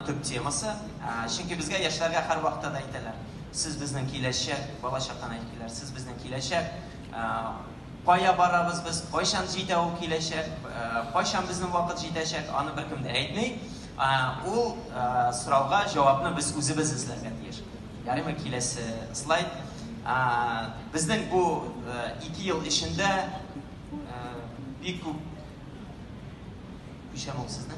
Төп темасы, чөнки безгә яшьләргә һәрвакытта да әйтәләр, сез безнең киләчәк, балачактан әйтеп киләләр, сез безнең киләчәк, кая барабыз без, кайчан җитә ул киләчәк, кайчан безнең вакыт җитәчәк, аны беркем дә әйтми. Ул сорауга җавапны без үзебез эзләргә тиеш. Ярыймы, киләсе слайд. Безнең бу ике ел эчендә бик күп Күчәм ул сезнең.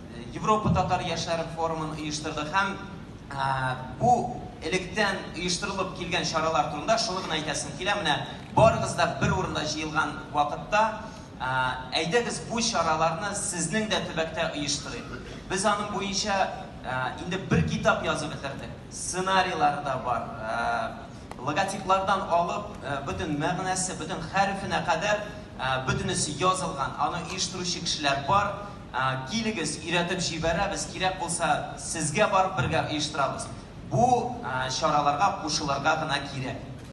Европа татар яшьләре форумын оештырдык һәм бу электән оештырылып килгән чаралар турында шуны гына әйтәсем килә, менә барыгыз да бер урында җыелган вакытта, әйдәгез бу чараларны сезнең дә төбәктә оештырыйк. Без аның буенча инде бер китап язып бетердек, сценарийлары да бар, логотиплардан алып, бөтен мәгънәсе, бөтен хәрефенә кадәр бөтенесе язылган, аны оештыручы кешеләр бар. Килегез, өйрәтеп җибәрәбез, кирәк булса, сезгә барып бергә оештырабыз. Бу чараларга кушылырга гына кирәк.